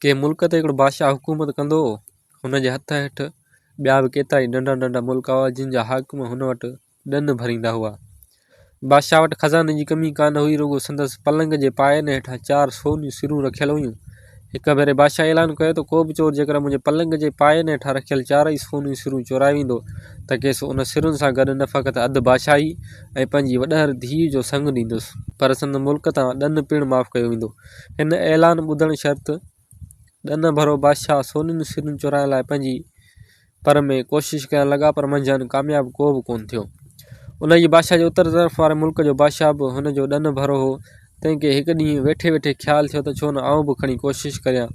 ڪنهن ملڪ تي هڪڙو بادشاهه حڪومت ڪندو هو. هن جي هٿ هيٺ ٻيا به ڪيترائي ننڍا ننڍا ملڪ هئا جن جا حاڪم هن وٽ ڏن ڀريندا هئا. بادشاهه وٽ خزاني جي ڪمي ڪانه هئي رڳو سندس پلنگ جي پاين هيٺان چار سونيون سرون رکيل هيون. هڪ ڀيري بادشاهه اعلان ڪيو ته ڪو به چور جيڪڏهن منهنجي پلنگ جي پاين هيٺان رکيل چارئي سونيون سرون چورائي ويندو ته کيس ان سرن سان گڏ نه فقط اڌ بادشاهي ۽ پنهنجي وڏهر ڌيء جو سڱ ڏيندس پر سندس ملڪ تان ڏن پڻ معاف ڪيو ويندو. هن اعلان ٻڌڻ شرط ڏنه ڀرو بادشاهه سونيون سرون چورائڻ لاء پنهنجي پر ۾ ڪوشش ڪرڻ لڳا پر منجهان ڪامياب ڪو به ڪونه ٿيو. انهيء بادشاهه جي اتر طرف واري ملڪ جو بادشاهه به هن جو ڏنه ڀرو هو، تنهن کي هڪ ڏينهن ويٺي ويٺي خيال ٿيو ته ڇو نه آئون به کڻي ڪوشش ڪريان.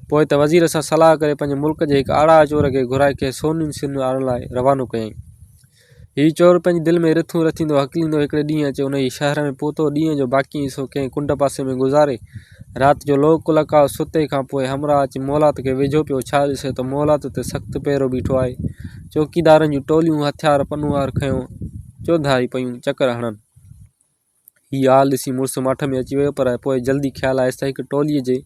پوء ته وزير سان صلاح ڪري پنهنجي ملڪ جي هڪ آڙاهه چور کي گهرائي کيس سونيون سرون آڻڻ لاء روانو ڪيائين. هي چور پنهنجي دل ۾ رٿون رٿيندو هڪليندو هڪڙي ڏينهن اچي ان جي شهر ۾ پهتو ڏينهن جو باقي حصو ڪنهن ڪنڊ پاسي ۾ گذاري رات جو لوڪ لڪاء ستي کان پوء همراهه اچي مولات کي ويجهو پيو ڇا ڏسي ته مولات تي سخت پهرو بيٺو آهي چوڪيدارن جون ٽوليون هٿيار پنهوار کنيو چوڌاري پيون چڪر هڻن هي حال ڏسي مڙس ماٺ ۾ اچي ويو پر پوء جلدي خيال آيس ته هڪ ٽوليء جي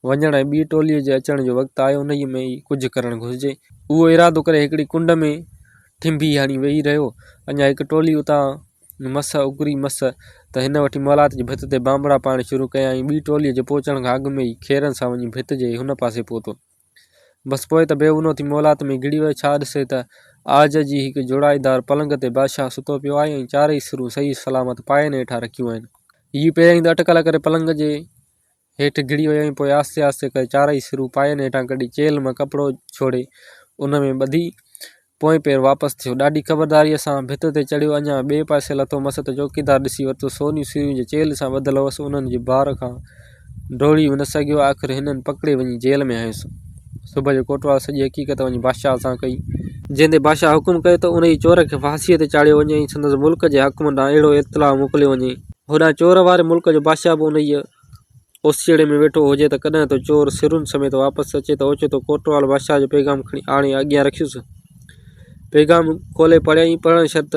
وڃڻ ۽ ٻي ٽوليء جي اچڻ جو وقت آيو انهيء ۾ ئي ڪجهه ڪرڻ گهرجي. اهو ارادو ڪري هڪڙي ڪنڊ ۾ ٺنڀي هڻي ويهي رهيو. اڃا هڪ ٽولي اتان مس اڪري مس ته هن وٺي مولات جي ڀت تي بانبڙا پائڻ شروع ڪيائين. ٻي ٽوليء جي پهچڻ کان اڳ ۾ ئي کيرن سان وڃي ڀت جي هن پاسي پهتو. بس پوء ته بيونو ٿي مولات ۾ گھڙي ويو، ڇا ڏسي ته عاج جي هڪ جوڙائيدار پلنگ تي بادشاهه ستو پيو آهي ۽ چارئي سرون صحيح سلامت پائين هيٺان رکيون آهن. هيء پهريائين ته اٽڪل ڪري پلنگ جي هيٺ گھڙي ويو ۽ پوء آهستي آهستي ڪري چارئي سرون پائين هيٺان ڪڍي چيلهه مان ڪپڙو ڇوڙي ان ۾ ٻڌي پوئين پير واپس ٿيو. ڏاڍي خبرداريء سان ڀت تي چڙهيو. اڃا ٻئي پاسي لٿو مس ته چوڪيدار ڏسي ورتو. سونيون سيريون جي چيلهه سان ٻڌل هئس، انهن جي بار کان ڊوڙي به نه سگهيو. آخر هنن پڪڙي وڃي جيل ۾ هنيس. صبح جو ڪوٽوال سڄي حقيقت وڃي بادشاهه سان ڪئي. جنهن تي بادشاهه حڪم ڪيو ته انهيء چور کي ڦاسيء تي چاڙهيو وڃي ۽ سندس ملڪ جي حاڪمن ڏانهن اهڙو اطلاع موڪليو وڃي. هوڏانهن چور واري ملڪ جو بادشاهه به انهيء. اوسيئڙي ۾ ويٺو هجي ته ڪڏهن ٿو چور سرن سميت واپس اچي ته اوچتو ڪوٽوال بادشاهه جو پيغام کڻي آڻي اڳيان رکيس. پيغام کولي پڙهيائين، پڙهڻ شرط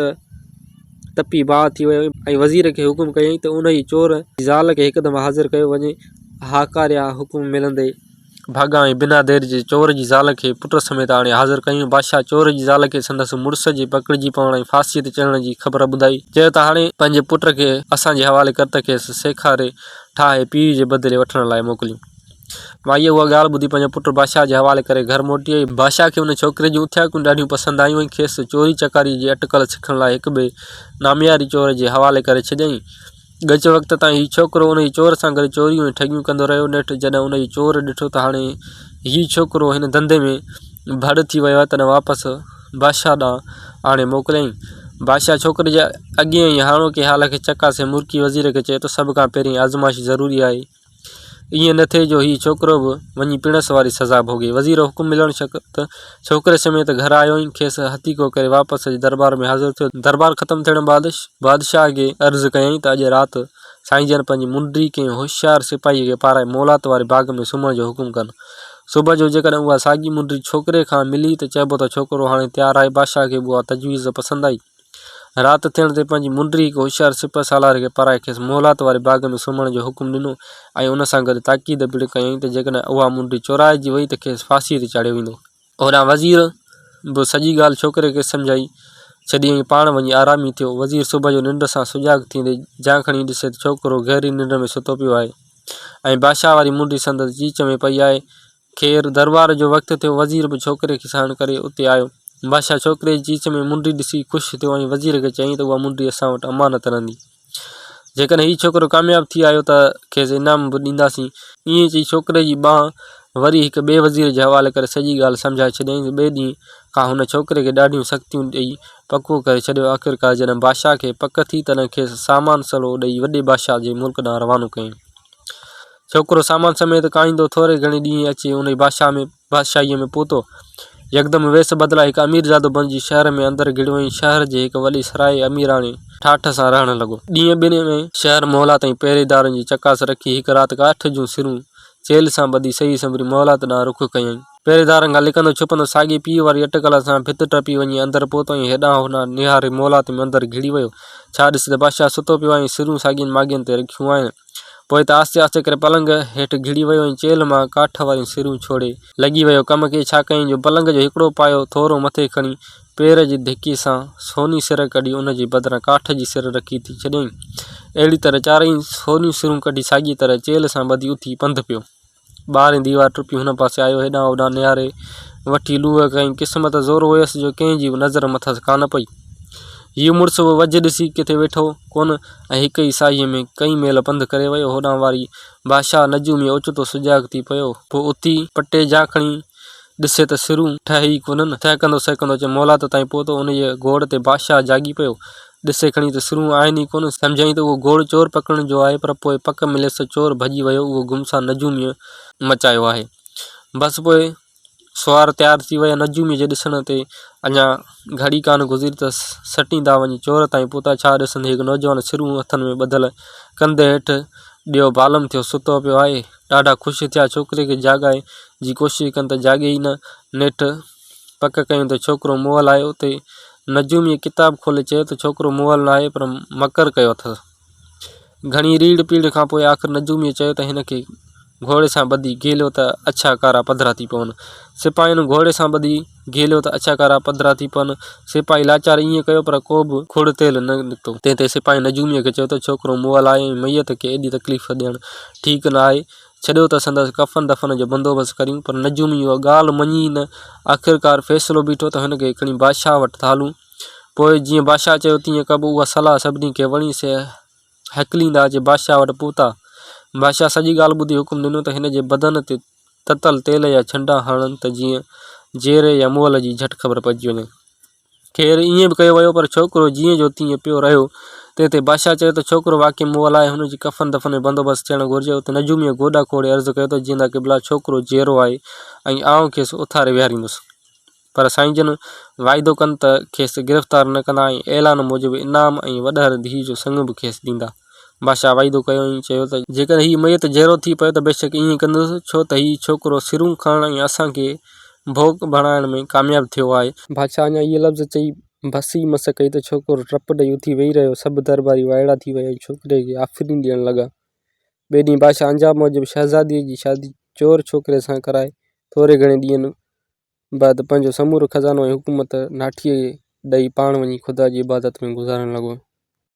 تپي باهه ٿي ويو ۽ وزير کي حڪم ڪيائين ته انهيء چور جي زال کي هڪدم حاضر ڪيو وڃي، هاڪاريا حڪم ملندي. ڀاڳا ۽ بنا دير جي چور جي زال کي پٽ سميت آڻي حاضر ڪيون. بادشاهه چور جي زال کي سندس مڙس جي پڪڙجي پوڻ ۽ ڦاسيء تي چڙهڻ جي خبر ٻڌائي. چيو ته هاڻي پنهنجي پٽ کي اسان جي حوالي ڪر ته کيس سيکاري ٺاهي پيء جي بدلي وٺڻ لاء موڪليون. مائيء اها ڳالهه ٻڌي پنهنجو پٽ بادشاهه جي حوالي ڪري گهر موٽي آئي. بادشاهه کي ان ڇوڪري جون اٿياڪون ڏاڍيون پسند آيون ۽ کيس چوري چڪاريء جي اٽڪل سکڻ لاء هڪ ٻئي نامياري چور جي حوالي ڪري ڇڏيائين. ڳچ وقت تائين هي ڇوڪرو ان جي چور سان گڏ چوريون ۽ ٺڳيون ڪندو رهيو. نيٺ جڏهن ان جي چور ڏٺو ته هاڻي هي ڇوڪرو هن ڌنڌي ۾ ڀڙ ٿي ويو آهي تڏهن واپس بادشاهه ڏانهن آڻي موڪليائين. بادشاهه ڇوڪري جي اڳين ۽ هاڻوڪي حال کي چڪاسي مرڪي وزير کي چيو ته سڀ کان پهرين آزمائش ضروري آهي. ائين نه ٿئي جو هيء ڇوڪرو به وڃي پڻس واري سزا ڀوڳي. وزير حڪم ملڻ شڪت ڇوڪري سميت گهر آيو ۽ کيس هٿيڪو ڪري واپس اچي درٻار ۾ حاضر ٿيو. درٻار ختم ٿيڻ بعد بادشاهه کي عرض ڪيائين ته اڄ رات سائين جن پنهنجي منڊي ڪنهن هوشيار سپاهيء کي پارائي مولات واري باغ ۾ سمهڻ جو حڪم ڪن. صبح جو جيڪڏهن اها ساڳي منڊي ڇوڪري کان ملي ته چئبو ته ڇوڪرو هاڻي تيار آهي. بادشاهه کي به اها تجويز پسند آئي. رات ٿيڻ تي پنهنجي منڊري هڪ هوشيار سپهه سالار کي پرائي کيس محلات واري باغ ۾ سمهڻ جو حڪم ڏنو ۽ ان سان گڏ تاڪيد پڻ ڪيائين ته جيڪڏهن اها منڊي چورائجي وئي ته کيس ڦاسيء تي چاڙهيو ويندو. هوڏانهن وزير به سڄي ڳالهه ڇوڪري کي سمجهائي ڇڏي ۽ پاڻ وڃي آرامي ٿيو. وزير صبح جو ننڊ سان سجاڳ ٿيندي جان کڻي ڏسي ته ڇوڪرو گهري ننڊ ۾ ستو پيو آهي ۽ بادشاهه واري منڊي سندس چيچ ۾ پئي آهي خير، درٻار جو وقت ٿيو، وزير به ڇوڪري کي ساڻ ڪري اتي آيو. بادشاهه ڇوڪري جي چيچ ۾ منڊي ڏسي خوش ٿيو ۽ وزير کي چيائين ته اها منڊي اسان وٽ امانت رهندي. جيڪڏهن هي ڇوڪرو ڪامياب ٿي آيو ته کيس انعام به ڏينداسين. ائين چئي ڇوڪري جي ٻانهن وري هڪ ٻئي وزير جي حوالي ڪري سڄي ڳالهه سمجهائي ڇڏيائين ته ٻئي ڏينهن کان هن ڇوڪري کي ڏاڍيون سختيون ڏئي پڪو ڪري ڇڏيو. آخرڪار جڏهن بادشاهه کي پڪ ٿي تڏهن کيس سامان سلو ڏئي وڏي بادشاهه جي ملڪ ڏانهن روانو ڪيائين. ڇوڪرو سامان سميت ڪاهيندو ٿوري گهڻي ڏينهن اچي انهيء بادشاهه ۾ بادشاهيء ۾ پهتو. يڪدم ويس بدلائي هڪ اميرزادو بڻجي شهر ۾ اندر گهڙيو ۽ شهر جي هڪ وڏي سرائي اميراڻي ٺاٺ سان رهڻ لڳو. ڏينهن ٻن ۾ شهر مهلا تائين پهريدارن جي چڪاس رکي هڪ رات ڪاٺ جون سرون چيلهه سان ٻڌي سهي سنبري مهلات ڏانهن رخ ڪيائين. پهريدارن کان لڪندو ڇپندو ساڳي پيء واري اٽڪل سان ڀت ٽپي وڃي اندر پهتو ۽ هيڏانهن هوڏانهن نهاري مهلات ۾ اندر گهڙي ويو. ڇا ڏسي ته بادشاهه ستو پيو آهي ۽ سرون ساڳين ماڳين تي رکيون آهن. پوء ته آهستي آهستي ڪري پلنگ هيٺ گهڙي ويو ۽ چيلهه مان ڪاٺ واريون سرون ڇوڙي. لڳي ويو ڪم ڪي ڇا ڪيائين جو پلنگ جو هڪڙو پايو ٿورو مٿي کڻي پير جي ڌڪي سان سوني سر ڪڍي ان جي بدران ڪاٺ جي سر رکي ٿي ڇڏيائين. اهڙي طرح چارئي سونيون سرون ڪڍي ساڳيء طرح چيلهه سان ٻڌي اٿي پنڌ پيو. ٻاهرين ديوار ٽپي هن پاسي آيو، هيڏانهن هوڏانهن نهاري، وٺي لوهه کنئي، قسمت زور هيس جو ڪنهن جي به نظر مٿس ڪانه پئي. هيء مڙس به وجهه ڏسي ڪٿي ويٺو ڪونه ۽ هڪ ئي ساهيء ۾ ڪئين ميل پنڌ ڪري ويو، هوڏانهن واري بادشاهه نجومي اوچتو سجاڳ ٿي پيو. پوء اٿي پٽي جا کڻي ڏسي ته سرون ٺهي ئي ڪونهن. سهڪندو سهڪندو اچي مولات تائين پهتو، انهيء گوڙ تي بادشاهه جاڳي پيو، ڏسي کڻي ته سرون آهن ئي ڪونه. سمجهيائين ته اهو گوڙ چور پڪڙڻ جو آهي، پر پوء پڪ مليس ته چور ڀڄي ويو، اهو گم سان نجوميء مچايو آهي. بس پوء سوار تيار ٿي ويا. نجوميء جي ڏسڻ تي اڃا گهڙي ڪانه گذري ته سٽيندا وڃي چور تائين پهتا. ڇا ڏسن، هڪ نوجوان سرون هٿن ۾ ٻڌل ڪنڌ هيٺ ڏيئو بالم ٿيو ستو پيو آهي. ڏاڍا خوش ٿيا، ڇوڪري کي جاڳائي جي ڪوشش ڪن ته جاڳي ئي نه. نيٺ پڪ ڪيون ته ڇوڪرو مئل آهي اتي نجوميء ڪتاب کولي چيو ته ڇوڪرو مئل نه آهي پر مڪر ڪيو اٿس. گهڻي ريڙ پيڙ کان پوء آخر نجوميء چيو ته هن کي گهوڙي سان ٻڌي گهيليو ته اڇا ڪارا پڌرا ٿي پون. سپاهين گهوڙي سان ٻڌي گهيليو ته اڇا ڪارا پڌرا ٿي پون. سپاهي لاچار ائين ڪيو پر ڪو به کوڙ تيل نه نڪتو. تنهن تي سپاهين نجوميء کي چيو ته ڇوڪرو مئل آهي ۽ ميت کي ايڏي تڪليف ڏيڻ ٺيڪ نه آهي. ڇڏيو ته سندس ڪفن دفن جو بندوبست ڪريون، پر نجومي اها ڳالهه مڃي ئي نه. آخرڪار فيصلو بيٺو ته هن کي کڻي بادشاهه وٽ ٿا هلون. پوء جيئن بادشاهه چيو تيئن ڪبو. اها صلاح سڀني کي وڻي، سي هڪليندا اچي بادشاهه وٽ پهتا. بادشاهه سڄي ڳالهه ٻڌي حڪم ڏنو ته هن جي بدن تي تتل تيل يا ڇنڊا هڻن ته جيئن جيري يا مئل جي جهٽ خبر پئجي وڃي. خير ائين به ڪيو ويو، پر ڇوڪرو جيئن جو تيئن پيو رهيو. تنهن تي بادشاهه چيو ته ڇوڪرو واقعي مون ولا آهي، هن جي ڪفن دفن ۾ بندوبست ٿيڻ گهرجي. اتي نجوميء گوڏا کوڙي عرض ڪيو ته جيئندا قبلا ڇوڪرو جيئرو آهي ۽ آئون کيس اٿاري ويهاريندس، پر سائين جن واعدو ڪن ته کيس گرفتار نه ڪندا ۽ اعلان موجب انعام ۽ وڏهر ڌيء جو سڱ به کيس ڏيندا. بادشاهه وعدو ڪيو ۽ چيو ته جيڪڏهن هي ميت جيئرو ٿي پيو ته بيشڪ ائين ڪندس، ڇو ته هي ڇوڪرو سرون کڻڻ ۽ اسان کي ڀوڳ بڻائڻ ۾ ڪامياب ٿيو آهي. بادشاهه اڃا اهي لفظ چئي بس ئي مس ڪئي ته ڇوڪرو ٽپ ڏئي اٿي ويهي رهيو. سڀ درٻاري وائڙا ٿي ويا ۽ ڇوڪري کي آفرين ڏيڻ لڳا. ٻئي ڏينهن بادشاهه انجام موجب شهزاديء جي شادي چور ڇوڪري سان ڪرائي ٿوري گهڻي ڏينهن بعد پنهنجو سمورو خزانو ۽ حڪومت ناٺيء ڏئي پاڻ وڃي خدا جي عبادت ۾ گذارڻ لڳو.